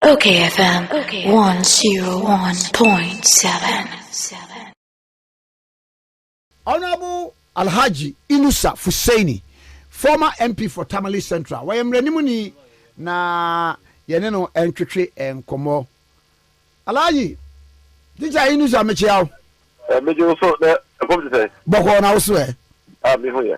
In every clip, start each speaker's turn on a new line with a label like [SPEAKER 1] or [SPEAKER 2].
[SPEAKER 1] Okay
[SPEAKER 2] FM 101.7. Honorable Alhaji Inusa Fuseini, former MP for Tamale Central, wɔyɛ mmaranimuni na yɛne no ntwetwe nkɔmmɔ. Alhaji, tikya Inusa mekyea wo. Ɛmegye wo so
[SPEAKER 3] na ɛfam te sɛ. Bɔkɔɔ na wo so ɛ.
[SPEAKER 2] A mehu yɛ.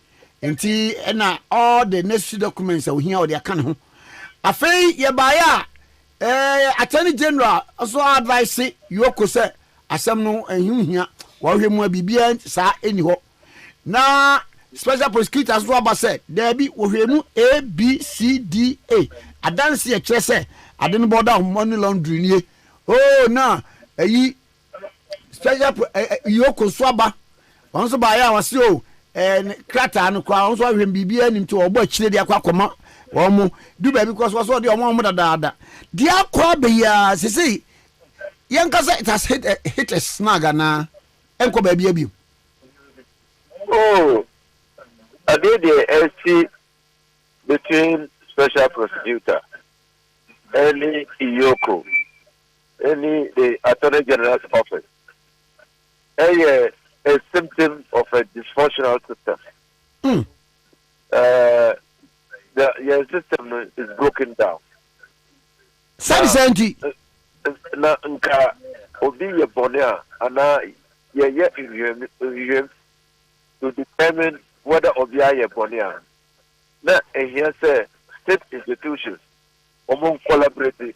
[SPEAKER 2] Enti na ɔde n'asu documents a ohia ɔde aka ne ho. Afei yɛbaeɛ a, eh, Attorney General nso advice Yoko sɛ asɛm no ɛho nhia, wɔhwɛ mu a biribiara saa ɛni hɔ. Na Special Prosecutors nso aba sɛ daabi, wɔhwɛ mu A, B, C, D, E. Adanse a ɛkyerɛ sɛ ade no bɔda ho money laundering nie. Oh, na ɛyi special pro ɛ ɛ yoko nso aba wɔn nso baayɛ a wɔsi o ɛɛ ne krataa no koraa wɔn nso ahwɛ biribiara nim ti wɔbɔ akyire de akɔ akɔma wɔn mo du baabi kɔ so wɔsɔ de wɔn wɔn dadaada deɛ akɔ abɛyia sese yɛn kasa it has hit a hit a snag anaa ɛnkɔ baabi abiem.
[SPEAKER 3] oh adeɛ deɛ ɛsi between special prosecutor ɛne iyoko. Ɛne the Attorney General's Office yɛ a symptom of a dysfunctional system. Mm. Uh, the, your system is broken down. Sani sɛnti.
[SPEAKER 2] Na
[SPEAKER 3] nka obi yɛ bɔne a anaa yɛyɛ nhwehwɛm nhwehwɛm to determine whether obi ayɛ bɔne a na ehia sɛ state institutions wɔn collaborate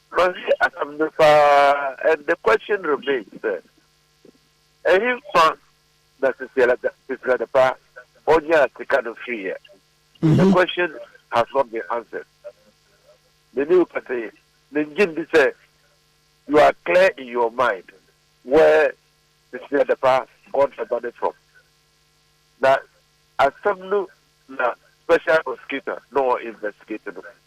[SPEAKER 3] Mahwɛ asɛm no paa and the question remains sɛ, Ɛhefa na Sisiada Pa ɔnyaa sika no firiiɛ? The question has not been answered. Me ne wo kasa yi, mengye ndi sɛ you are clear in your mind where Sisiada Pa got the money from. Na asɛm no na special prosecutor na ɔɔ investigate no.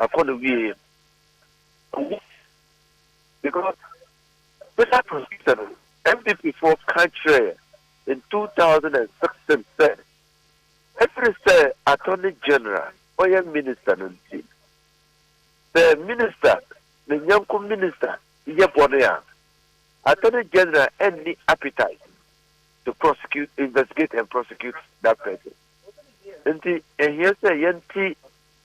[SPEAKER 3] Akɔ do wiei no, owu because special prosecutor no, NPP foɔ ka kyerɛɛ yɛn in two thousand and sixteen sɛ ɛfiri sɛ Attorney General ɔyɛ Minister no nti, sɛ Minister, ne nyɛnko Minister yɛ bɔne a, Attorney General nni appetite to prosecute, investigate and prosecute that person. Nti ɛhia sɛ yɛnte.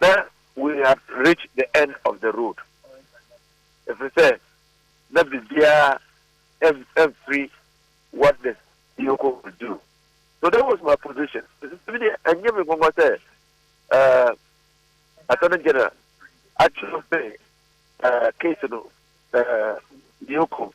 [SPEAKER 3] Ná we had reached the end of the road, ɛfiri sɛ na biribiara mfiri what the vehicle could do. So that was my position. Ɛsɛ deɛ ɛnyɛ me nwanwa sɛ Attorney General atwerɛ sɛ case no vehicle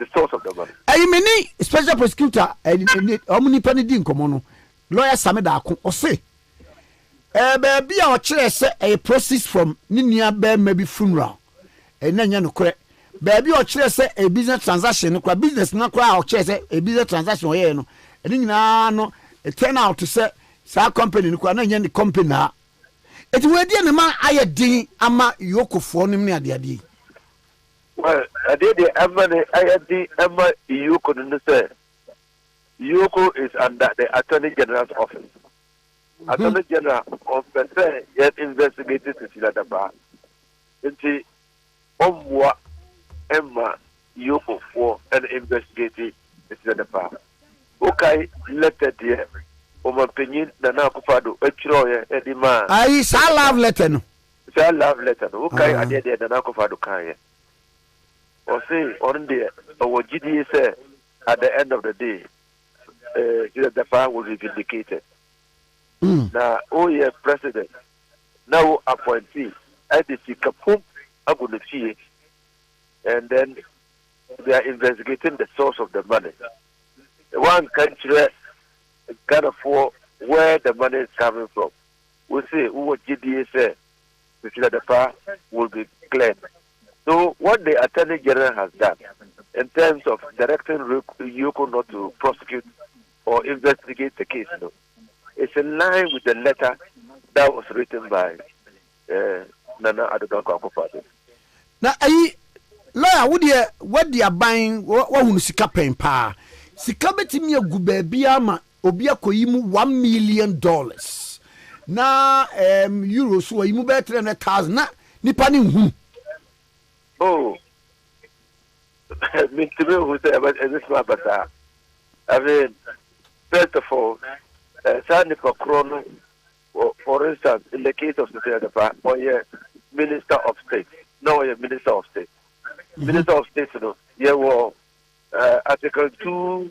[SPEAKER 3] Ɛyi me ne
[SPEAKER 2] special prosecutor wɔn nipa no di nkɔmɔ no lawyer Sami Daako ɔse ɛɛ baabi a ɔkyerɛ sɛ ɛyɛ proceeds from ne nua bɛrima bi funeral ɛna nyɛ nokorɛ baabi a ɔkyerɛ sɛ ɛyɛ business transaction no kora business no kora a ɔkyerɛ sɛ ɛyɛ business transaction ɔyɛɛ no ɛne nyinaa no turn out sɛ saa company no kora na nyɛ ne company naa ɛti wɔadiɛ ne ma ayɛ den ama yokofoɔ nom ne adeadeɛ yi
[SPEAKER 3] Well, adeɛ deɛ ɛma no ayɛ den ɛma Yioko no ne sɛ, Yioko is under the Attorney General's office. Attorney General ɔmpɛ sɛ yɛ investigate Cecilia Dapaah, nti ɔmmoa mma Yioko foɔ ɛn investigate Cecilia Dapaah. Wokae letter deɛ Ɔmanpanyin Nana Akufo-Addo ɛtwerɛeɛ ɛde maa Ayi, saa love
[SPEAKER 2] letter no, Saa love letter
[SPEAKER 3] no, wokae adeɛ deɛ Nana Akufo Addo kaeɛ? Ɔse ɔno deɛ ɔwɔ gyidie sɛ at the end of the day, eh, Jesus Dapaah will be vindicated. Na woyɛ president na wo appointee ɛde sika pum agu ne fie and then they are investigating the source of the money. Woanka nkyerɛ Ghanafoɔ where the money is coming from. Wose wowɔ gyedie sɛ Christina Dapaah will be cleared so what the Attorney General has done in terms of directing Yioko not to prosecute or investigate the case no is in line with the letter that was written by eh, Nana Addo Dankwa Akufo-Addo. Na ayi
[SPEAKER 2] lawyer wo deɛ wadi aban wahunu sika pɛn paa sika bɛtumi agu baabiara ma Obi akoyi mu one million dollars na ɛɛm Euro so ɔyi mu bɛyɛ three hundred thousand na nipa ne nhunu.
[SPEAKER 3] Oh, mintumi nhu sɛ ɛbɛ ɛbɛtumi aba saa. I mean, first of all, eh, saa nipa korɔ no, for, for instance, in the case of Sisi Adepa, ɔyɛ minister of state, na ɔyɛ minister of state. Mm-hmm. Minister of state no, yɛwɔ uh, eh, article two.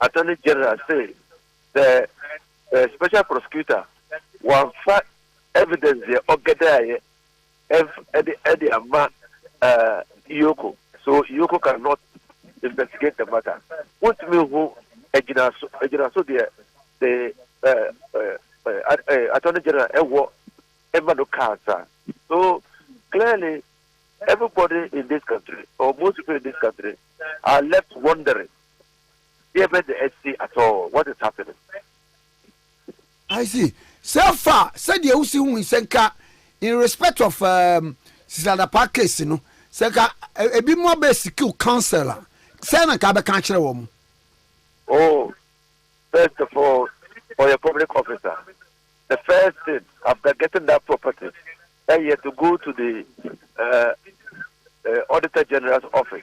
[SPEAKER 3] Attorney General se the Special Prosecutor wamfa evidence deɛ ɔgɛdɛaeɛ ɛnf de ama Ioko so Ioko can not investigate the matter. Wontumi nhu agyinaso agyinaso deɛ the Attorney General ɛwɔ ɛma no kaa saa. So clearly everybody in this country or most people in this country are left wondering. Deɛ bɛ de asi at all, what is happening?
[SPEAKER 2] I see, sɛ fa sɛdeɛ wosi hu sɛ nka in respect of um, Sisi Adapaa case no, sɛ nka e- ebi mu abɛ sikiw counsel a, sɛ na nka abɛka akyerɛ wɔn. Oh,
[SPEAKER 3] first of all, for your public officer, the first thing after getting that property, eh, you have to go to the uh, uh, Auditor General's office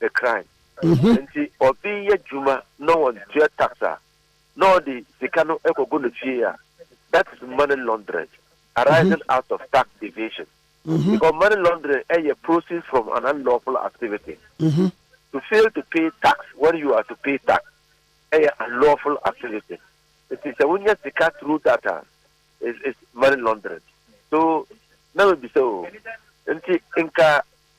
[SPEAKER 3] ne kran. Enti obi yɛ adwuma na ɔntua tax a, na ɔde sika no kɔgu ne fie a, that is money laundering arising out of tax evasion. Because money laundering yɛ proceeds from an unlawful activity. To fail to pay tax when you are to pay tax yɛ unlawful activity. Enti sɛ wonya sika through that a, is is money laundering. So na mebisa o, enti nka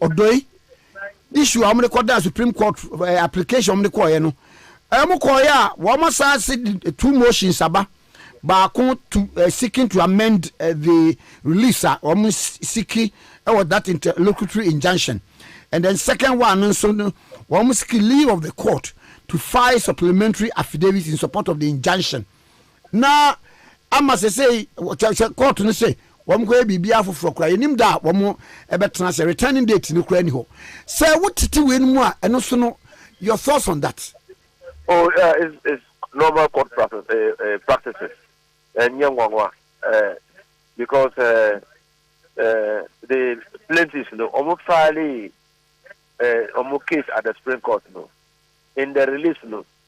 [SPEAKER 2] Odoi issue a wɔn de kɔ da supreme court eh, application wɔn de kɔɔyɛ no wɔn kɔɔyɛ a wɔn asan se two motions aba baako to uh, seeking to amend uh, the release a wɔn siki ɛwɔ that interlocutory injunction and then second one no nso no wɔn siki leave of the court to file supplementary affidavit in support of the injunction. na ama sesei sɛ kɔɔto no sɛ wɔnkɔyɛ biribiara foforɔ koraa yɛnim da a wɔn ɛbɛtena sɛ returning date no koraa ni hɔ sɛ wotete wei no mu a ɛno so no your thoughts on that oh yeah it's,
[SPEAKER 3] it's normal court practice, uh, eh, uh, eh, practices ɛnyɛ eh, nwanwa uh, because uh, uh, the plaintiffs no wɔn file uh, wɔn case at the supreme court no in the release no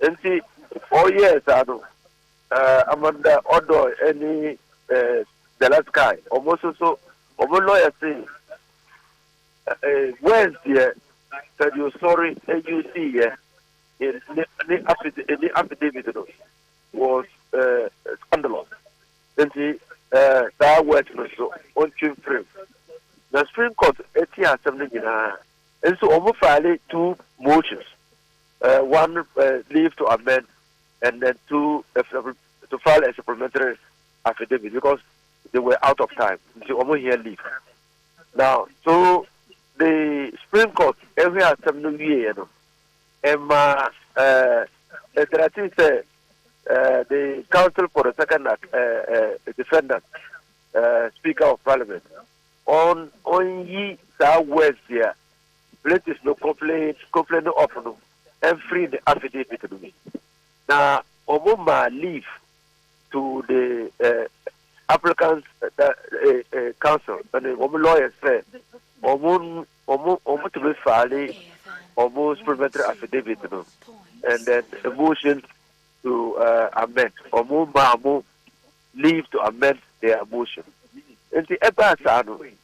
[SPEAKER 3] Enti ɔyɛɛ saa no, Amanda Odoi ne Delesky, wɔn nso so wɔn lɔya se wɔantie sɛdeɛ ɔsɔre yuusiiɛ ne affidavit no was scandalous, enti saa word no nso wɔntwe mfiri mu. Na Supreme Court tiee asɛm no nyinaa, nso wɔn faale two motions. One leave to amend and then two to file a supplementary affidavit because they were out of time nti wɔn hia leave now so the supreme court ɛhwɛ asɛm no wie yɛ no ɛma ɛɛ ɛdɛrɛti sɛ ɛɛ the council for the second uh, uh, defendant uh, speaker of parliament on on yi saa words yɛ Plates no koplete koplete no off no mfiri ne affidavit no mu. Na wɔmaa leave to the eh, applicants eh, eh, eh, council ɛne wɔn lawyers sɛ wɔn wɔn wɔn tumi faale wɔn supplementary affidavit no and then a motion to uh, amend wɔn maa mo leave to amend their motion nti ɛbaa saa no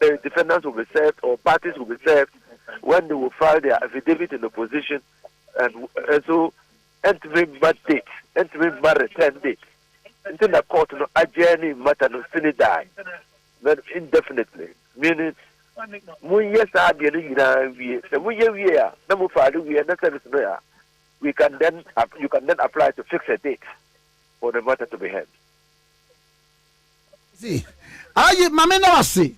[SPEAKER 3] The defendants will be served or parties will be served when they will file their affidavit in opposition and nso ɛntumi mma date ɛntumi mma return date nti na court no adjourn matter no sini daa but indefinitely meaning monyɛ saa adeɛ no nyinaa wie sɛ moyɛ wie a na mo file wie na service no a we can then you can then apply to fix a date for the matter to be heard.
[SPEAKER 2] See, ayi mami na wase.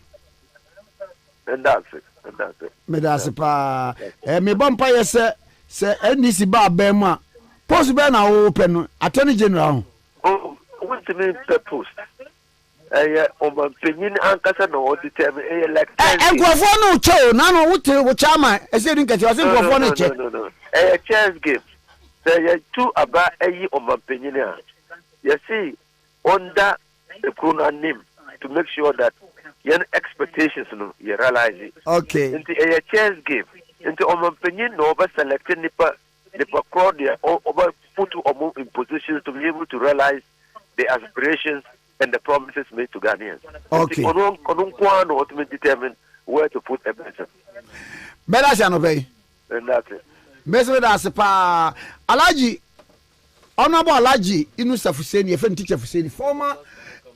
[SPEAKER 3] Meda ase, meda ase. Meda ase paa.
[SPEAKER 2] Eh, me bɔ mpa yɛ sɛ sɛ NDC ba abɛn mu a post bɛn na wo pɛ no attorney general ho. Oh,
[SPEAKER 3] wontumi mpɛ post. Ɛyɛ ɔmampanyin ankasa na ɔde tɛ me. Ɛyɛ like ten days. Nkurɔfoɔ no
[SPEAKER 2] kyɛ o, nano wote wo kyɛ ama ɛsɛ di nkɛse ɔsɛ nkurɔfoɔ no kyɛ. Ɛyɛ chess
[SPEAKER 3] game. Sɛ yɛtu aba ayi ɔmampanyin a, yɛsi ɔnda ekuro no anim to make sure that yɛn expectations no yɛ realise okay nti ɛyɛ
[SPEAKER 2] chess
[SPEAKER 3] game nti ɔmanpanyin na ɔbɛ select nipa nipa korɔ deɛ ɔbɛ put ɔmo in positions to be able to realise the aspirations and the promises made to Ghanaians okay ɔno
[SPEAKER 2] ɔno nko ara na
[SPEAKER 3] ɔtumi determine where to put a person. Bɛda
[SPEAKER 2] ase anɔpɛ yi. Bɛda ase.
[SPEAKER 3] Mɛsi bɛda ase
[SPEAKER 2] paa Alhaji Honourable Alhaji Inusa Fuseni, yɛfrɛ no Teacher Fuseni, former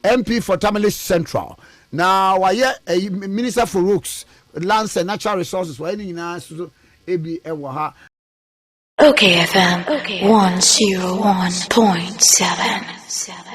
[SPEAKER 2] MP for Tamale Central, na wayɛ ɛyi Minister for Roads, Lands and Natural Resources, wayɛ ne nyinaa soso ebi wɔ ha. Okay
[SPEAKER 1] FM 101.7.